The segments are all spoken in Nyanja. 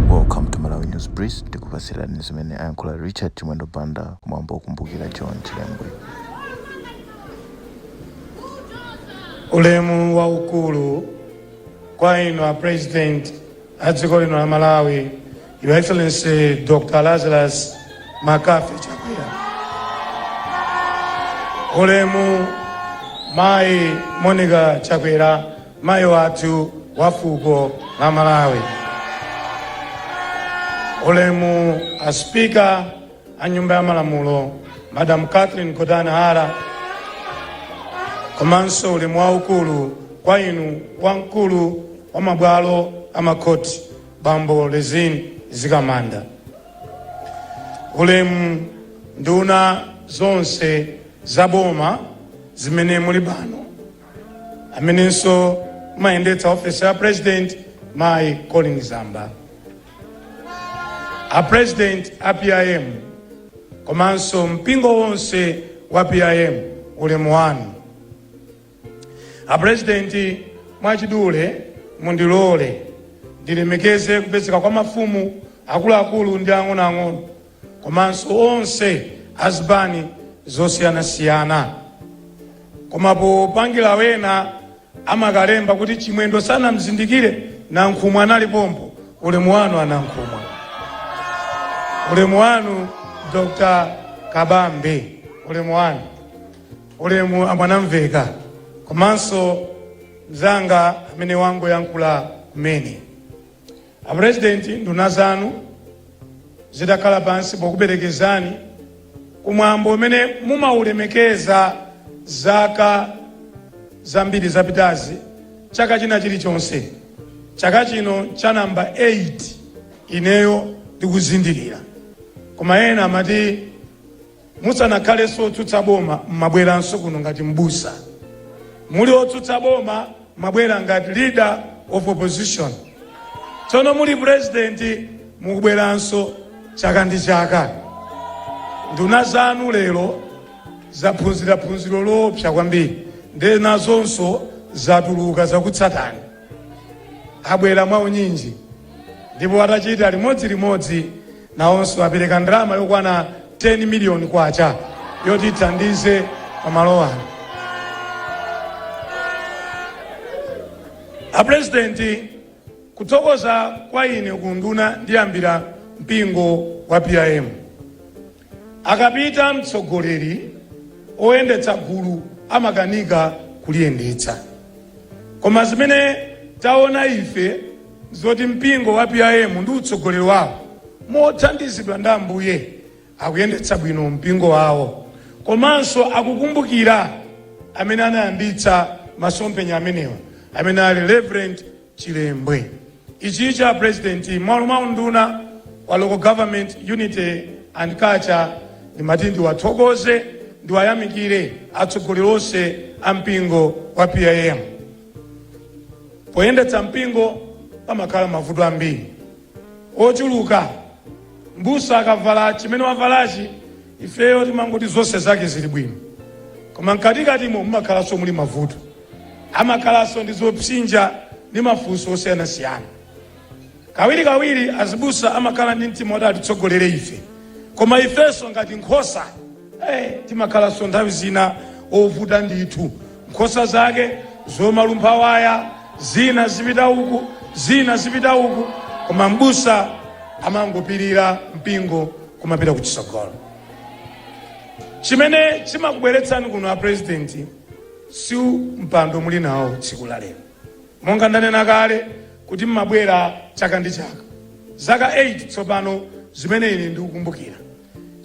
welcome to malawi news brief ndikupatsirani zimene ayankhula richard chimwendo banda kumwambo okumbukira john chilembwe ulemu waukulu kwa inu a president a dziko lino la Malawi, Your Excellency Dr. Lazarus McCarthy Chakwera. Ulemu Mayi Monica Chakwera, mayi wathu wa fuko la Malawi. Ulemu a Speaker a nyumba ya malamulo madam catherine gotani hara komanso ulemu waukulu kwa inu wamkulu wa mabwalo a makhoti bambo rizine mzikamanda ulemu nduna zonse za boma zimene muli pano amenenso mumayendetsa ofesi ya president mayi colleen zamba a president a pim komanso mpingo wonse wa pim ulemu wanu a president mwachidule mundilole ndilemekeze kupezeka kwa mafumu akuluakulu ndi ang'onoang'ono komanso onse azipani zosiyanasiyana koma popangila wena amakalemba kuti chimwendo sanamzindikire nankhumwa anali pompo ulemu wanu anankhumwa ulemu wanu dr kabambe ulemu wanu ulemu amwanamveka komanso mzanga amene wangoyankhula kumene A President nduna zanu zitakhala pansi pokuperekezani ku mwambo umene mumaulemekeza zaka zambiri zapitazi chaka china chilichonse, chaka chino cha number 8 ineyo ndikuzindikira koma ena amati Musanakhalenso otsutsa boma mmabweranso kuno ngati m'busa. Muli otsutsa boma mmabwera ngati leader of opposition. Tsono muli president mukubweranso chaka ndi chaka. Nduna zanu lero zaphunzira phunziro loopsa kwambiri nde nazonso zatuluka zakutsatani. abwera mwaunyinji ndipo atachita limodzi limodzi nawonso apereka ndalama yokwana 10 miliyoni kwacha yoti ithandize pamalo ano apurezidenti kuthokoza kwa ine kunduna ndiyambira mpingo wa pim Akapita mtsogoleri, oyendetsa gulu amakanika kuliyendetsa. Koma zimene taona ife nzoti mpingo wa PIM ndi utsogoleri wawo mothandizidwa ndi Ambuye akuyendetsa bwino mpingo wawo komanso akukumbukira amene anayambitsa masomphenya amenewa amene ali Rev. chilembwe ichichi a president mmalo mwa unduna wa local government unity and culture ndimati ndiwathokoze ndiwayamikire atsogoleri onse a mpingo wa PIM poyendetsa mpingo pamakhala mavuto ambiri ochuluka. Mbusa akavala chimene wavalachi ifeyo timangoti zonse zake zili bwino, koma mkatikatimo mumakhalanso muli mavuto, amakhalanso ndi zopsinja ndi mafunso osiyanasiyana. Kawirikawiri azibusa amakhala ndi mtima woti atitsogolere ife, koma ifenso ngati nkhosa eh, timakhalanso nthawi zina ovuta ndithu. Nkhosa zake zomalumpha waya, zina zipita uku, zina zipita uku, koma m'busa amangopirira mpingo kumapita kuchitsogolo. Chimene chimakubweretsani kuno a president si mpando muli nawo tsiku la lero, monga ndanena kale kuti mmabwera chaka ndi chaka, zaka 8 tsopano zimene ine ndikukumbukira.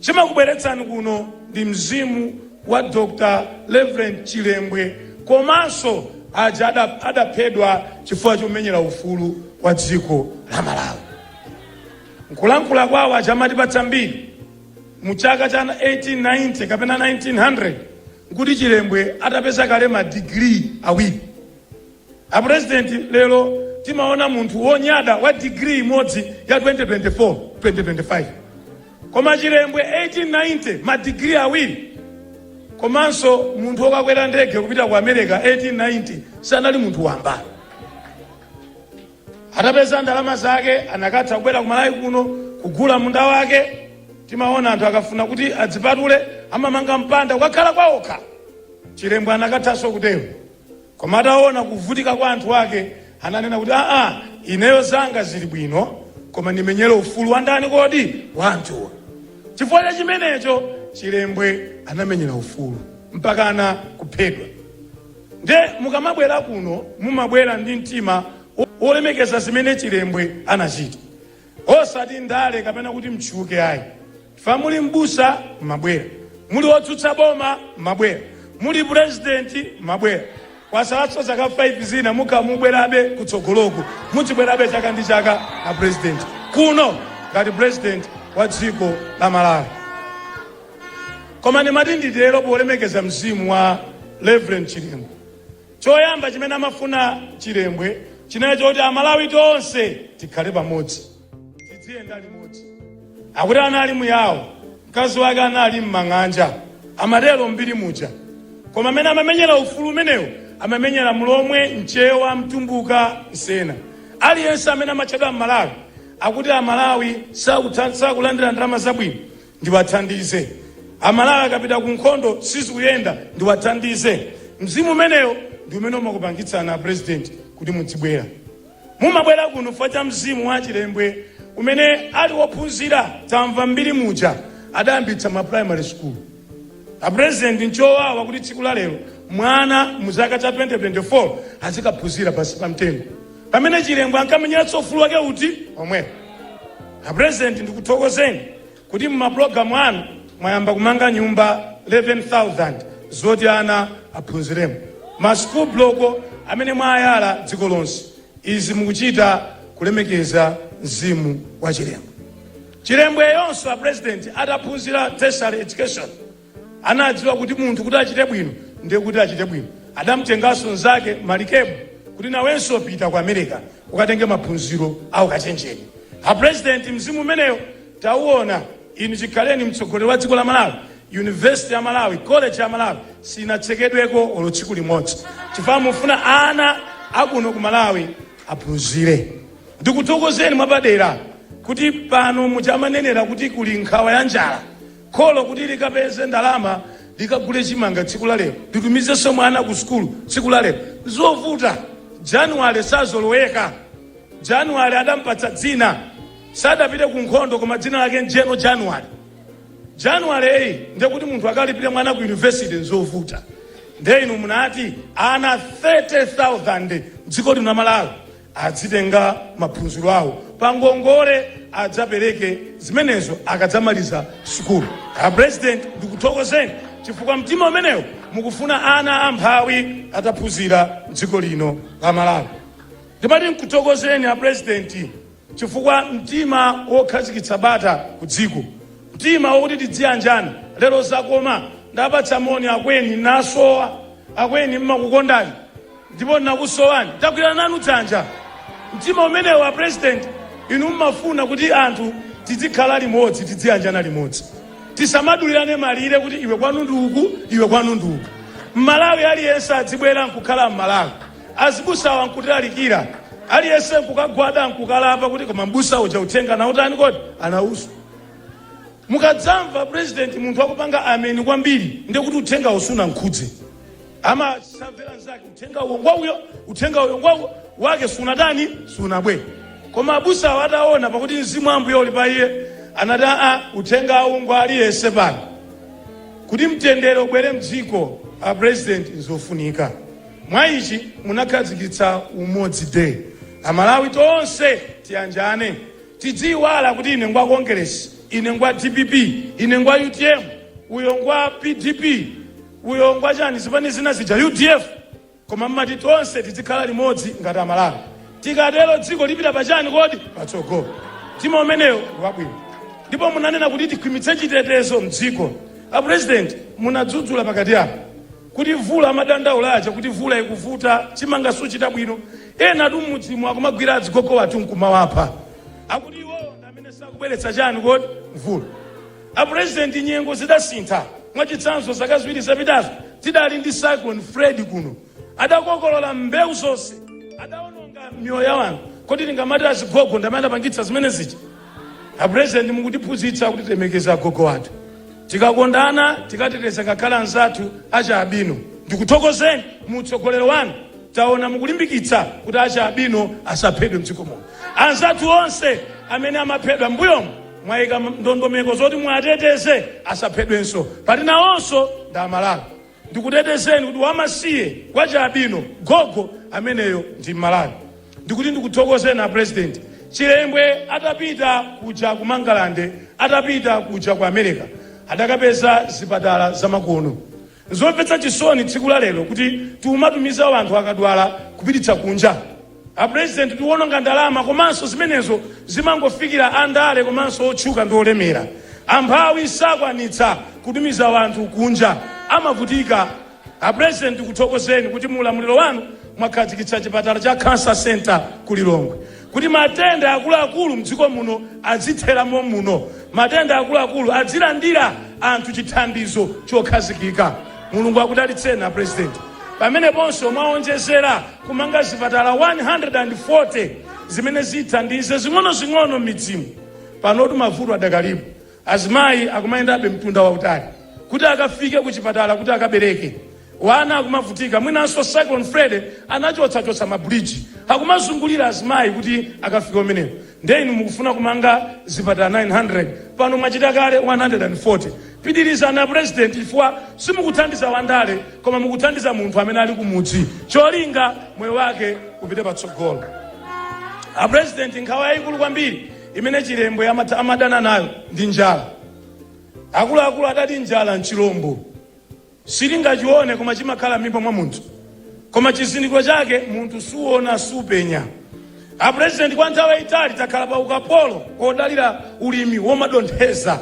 Chimakubweretsani kuno ndi mzimu wa Dr Rev Chilembwe komanso aja adaphedwa chifukwa chomenyera ufulu wa dziko la Malawi. Mkulankhula kwawo ajawa amatipatsa mbiri mu chaka cha 1890 kapena 1900 nkuti Chilembwe atapeza kale ma degree awiri. A president lero timaona munthu wonyada wa degree imodzi ya 2024 2025 koma chilembwe 1890 ma degree awiri komanso munthu wokwera ndege kupita ku america 1890 sanali munthu wamba atapeza ndalama zake anakatha kubwera kumalawi kuno kugula munda wake timaona anthu akafuna kuti adzipatule amamanga mpanda kukakhala kwaokha chilembwe anakathanso kutero Koma ataona kuvutika kwa anthu ake, ananena kuti, Aa, ineyo zanga zili bwino, koma ndimenyere ufulu wa ndani kodi? Wa anthuwa. Chifukwa cha chimenecho, Chilembwe anamenyera ufulu mpakana kuphedwa. Nde mukamabwera kuno, mumabwera ndi mtima wolemekeza zimene Chilembwe anachita. Osati ndale kapena kuti mtchuke ayi. Chifukwa muli m'busa mmabwera. Muli otsutsa boma mmabwera. Muli president mmabwera. Kwasalanso zaka 5 zina mukhala mukubwerabe kutsogoloku. Mudzibwerabe chaka ndi chaka a president kuno ngati president wa dziko la Malawi. Koma ndimati nditero polemekeza mzimu wa Rev Chilembwe. Choyamba chimene amafuna Chilembwe chinali choti Amalawi tonse tikhale pamodzi, tidziyenda limodzi. Akuti anali Muyawo, mkazi wake anali m'mang'anja, amatero m'mbiri muja. Koma mmene amamenyera ufulu umenewu amamenyera Mlomwe, Mchewa, Mtumbuka, Msena. Aliyense amene amatchedwa Mmalawi akuti Amalawi sakulandira ndalama zabwino. ndiwathandize. Amalawi akapita kunkhondo sizikuyenda, ndiwathandize. Mzimu umenewo ndi umene umakupangitsani a president kuti mudzibwera. Mumabwera kuno chifukwa cha mzimu wa Chilembwe umene uli wophunzira, tamva m'mbiri muja adayambitsa ma primary school. A president nchowawa kuti tsiku la lero mwana mu chaka cha 2024 azikaphunzira pansi pa mtengo. pamene chilembwe ankamenyeranso ufulu wake uti omwewo a president ndikuthokozeni kuti mumapulogalamu anu mwayamba kumanga nyumba 11000 zoti ana aphunziremo ma school block amene mwayala dziko lonse izi mukuchita kulemekeza mzimu wa chilembwe chilembweyonso a president ataphunzira tertiary education Anadziwa kuti munthu kuti achite bwino ndiye kuti achite bwino. Adamtenganso mnzake Malikebu kuti nawenso pita ku America ukatenge maphunziro a ukachenjede. A president mzimu umenewo tauona. Inu chikhaleni mtsogoleri wa dziko la Malawi, university ya Malawi, college ya Malawi sinatsekedweko olo tsiku limodzi chifukwa mufuna ana akuno ku Malawi aphunzire. Ndikuthokozeni mwapadera kuti pano muja amanenera kuti kuli nkhawa ya njala Kholo kuti likapeze ndalama likagule chimanga tsiku la lero, litumizenso mwana ku sukulu tsiku la lero, nzovuta. January sazoloweka. January adampatsa dzina, sadapite ku nkhondo koma dzina lake ndi General January. January ndiye kuti munthu akalipire mwana ku university nzovuta. Ndiye inu munati ana 30,000 mdziko lino la Malawi Adzitenga maphunziro awo pa ngongole adzapereke zimenezo akadzamaliza sukulu. A president ndikuthokozeni chifukwa mtima umenewo mukufuna ana amphawi ataphunzira mdziko lino la Malawi. Ndimati nkuthokozeni a president chifukwa mtima wokhazikitsa bata ku dziko, mtima wokuti tidziyanjana lero zakoma. Ndapatsa moni akweni Nankhumwa, akweni mmakukondani. ndipo ndinakusowani ndagwirana nanu dzanja mtima umenewo a president inu mmafuna kuti anthu tidzikhala limodzi tidziyanjana limodzi tisamadulirane malire kuti iwe kwanu ndi uku iwe kwanu ndi uku mmalawi aliyense adzibwera nkukhala mmalawi azibusawa nkutilalikira aliyense nkukagwada nkukalapa kuti koma mbusa uja uthenga anautani kodi anauswa mukadzamva president munthu akupanga ameni kwambiri ndekuti uthenga sunamkhudze amasamvera nzake uthenga uwo ngwa uyo uthenga uyo ngwa awo wake sunatani sunabwere koma abusawo ataona pakuti mzimu wa ambuye uli pa iye anati aa uthenga uwu ngwa aliyense pano kuti mtendere ubwere mdziko a president nzofunika mwa ichi munakhazikitsa umodzi day amalawi tonse tiyanjane tidziyiwala kuti ine ngwa congress ine ngwa dpp ine ngwa utm uyo ngwa pdp Uyo ngwachani zipani zina zija udf koma mmati tonse tidzikhala limodzi ngati amalawi tikatero dziko lipita pachani kodi patsogolo mtima umenewo ndiwabwino ndipo munanena kuti tikhwimitse chitetezo mdziko a president munadzudzula pakati apo kuti mvula amadandaula aja kuti mvula ikuvuta chimanga suchita bwino enatu mmudzimu akumagwira azigogo wathu nkumawapha akuti iwowo ndi amene sakubweretsa chani kodi mvula A President nyengo zidasintha, mwachitsanzo zaka ziwiri zapitazo tidali ndi Cyclone Freddy kuno, adakokolola mbewu zonse, adaononga miyoyo ya anthu, kodi tingamati azigogo ndi amene adapangitsa zimene zija? A President mukutiphunzitsa kuti tilemekeze agogo athu, tikakondana, tikateteza ngakhale anzathu achialubino. Ndikuthokozeni mu utsogoleri wanu taona mukulimbikitsa kuti achialubino asaphedwe mdziko muno, anzathu onse amene amaphedwa mbuyomu mwaika ndondomeko zoti muwateteze asaphedwenso poti nawonso ndi amalawi ndikutetezeni kuti wamasiye wachialubino gogo ameneyo ndi mmalawi ndikuti ndikuthokozeni a president chilembwe atapita kuja ku mangalande atapita kuja ku america adakapeza zipatala zamakono Nzomvetsa chisoni tsiku la lero kuti tikumatumiza wanthu akadwala kupititsa kunja. A president tikuononga ndalama komanso zimenezo zimangofikira a ndale komanso otchuka ndi olemera. Amphawi sakwanitsa kutumiza wanthu kunja amavutika. A president tikuthokozeni kuti mu ulamuliro wanu mwakhazikitsa chipatala cha Cancer Centre ku Lilongwe. Kuti matenda akuluakulu mdziko muno adzithera mommuno, matenda akuluakulu adzilandira anthu chithandizo chokhazikika. Mulungu akudalitseni a President. Pameneponso mwaonjezera kumanga zipatala 140 zimene zithandize zing'onozing'ono mmidzimu. Panotu mavuto adakalipo. Azimayi akumayendabe mtunda wautali kuti akafike ku chipatala kuti akabereke. Wana akumavutika mwinanso Cyclone Freddy anachotsachotsa ma bridge akumazungulira azimayi kuti akafike kumeneko. Nde inu mukufuna kumanga zipatala 900 pano mwachita kale 140. Pitirizani a President chifukwa simukuthandiza wandale koma mukuthandiza munthu amene ali kumudzi cholinga moyo wake upite patsogolo. A President nkhawa yayikulu kwambiri imene chilembwe amat amadana nayo ndi njala akuluakulu adati njala nchilombo silingachione koma chimakhala m'mimba mwa munthu koma chizindikiro chake munthu suona supenya apurezidenti kwa nthawi yayitali takhala pa ukapolo wodalira ulimi womadontheza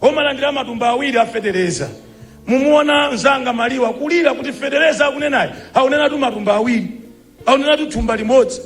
womalandira matumba awiri afetereza mumamuona mzanga maliwa kulira kuti fetereza akunenayo akunenatu matumba awiri Akunenatu thumba limodzi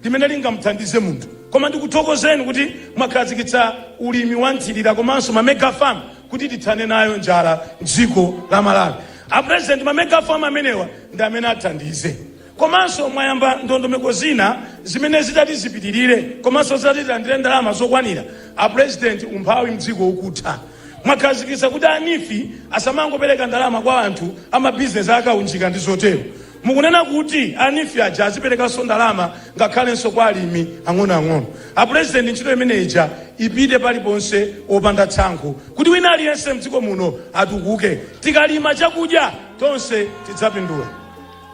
limene lingamuthandize munthu. Koma ndikuthokozeni kuti mwakhazikitsa ulimi wa nthirira komanso ma mega farm kuti tithane nayo njala m'dziko la Malawi. A President ma mega farm amenewa ndi amene athandize. Komanso mwayamba ndondomeko zina zimene zitati zipitirire komanso zitati tilandire ndalama zokwanira. A President umphawi m'dziko ukutha. Mwakhazikitsa kuti a Neef asamangopereka ndalama kwa anthu a ma business a kaunjika ndi zotero. Mukunena kuti a NEEF aja aziperekanso ndalama ngakhalenso kwa alimi ang'onoang'ono. A Pulezidenti ntchito imene ija ipite paliponse opanda tsankho kuti wina aliyense mdziko muno atukuke. Tikalima chakudya tonse tidzapindula.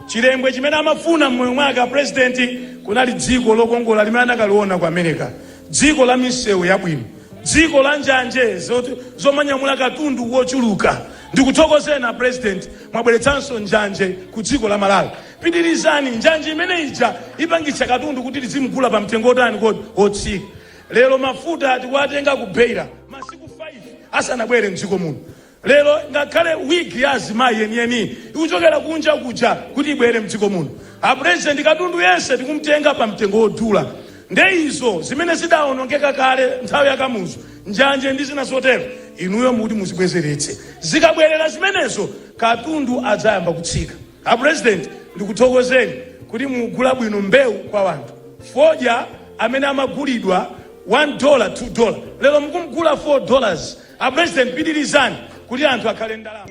Chilembwe chimene amafuna mmoyo mwake a Pulezidenti kunali dziko lokongola limene anakaliona ku Amerika, dziko la misewu yabwino, dziko la njanje zomanyamula katundu wochuluka. Ndikuthokozeni a president mwabweretsanso njanje ku dziko la Malawi. Pitilizani, njanje imene ija ipangitsa katundu kuti tizimugula pa mtengo otani kodi? Otsika. Lero mafuta tikuwatenga ku Beira masiku 5 asanabwere mdziko muno. Lero ngakhale wig ya azimayi yeniyeniyi ikuchokera kunja kuja kuti ibwere mdziko muno. A president katundu yense tikumtenga pa mtengo odula. Nde izo zimene zidaonongeka kale nthawi ya Kamuzu, njanje ndi zina zotero, inuyo mukuti muzibwezeretse. Zikabwerera zimenezo katundu adzayamba kutsika. A President ndikuthokozeni kuti mukugula bwino mbewu kwa wanthu. Fodya amene amagulidwa one dollar, two dollar, lero mukumgula four dollars. A President pitirizani kuti anthu akhale ndi ndalama.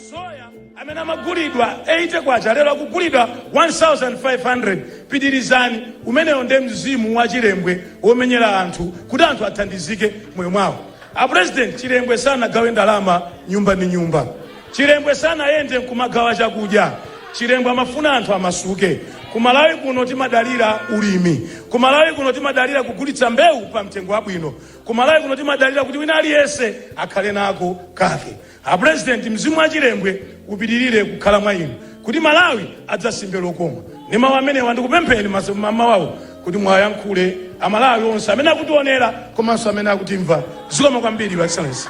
Soya. Amene amagulidwa K80 lero akugulidwa K1500. Pitilizani, umenewo nde mzimu wa Chilembwe womenyera anthu kuti anthu athandizike moyo mwawo. A President, Chilembwe sanagawe ndalama nyumba ndi nyumba. Chilembwe sanayende nkumagawa chakudya. Chilembwe amafuna anthu amasuke. Ku Malawi kuno timadalira ulimi. Ku Malawi kuno timadalira kugulitsa mbewu pa mtengo wabwino. Ku Malawi kuno timadalira kuti wina aliyense akhale nako kake. A president mzimu wa chilembwe upitilire kukhala mwa inu kuti malawi adzasimbe lokoma ndi mawu amenewa ndikupempheni mas- ma- mawawo kuti mwayankhule amalawi onse amene akutionera komanso amene akutimva zikomo kwambiri your excellency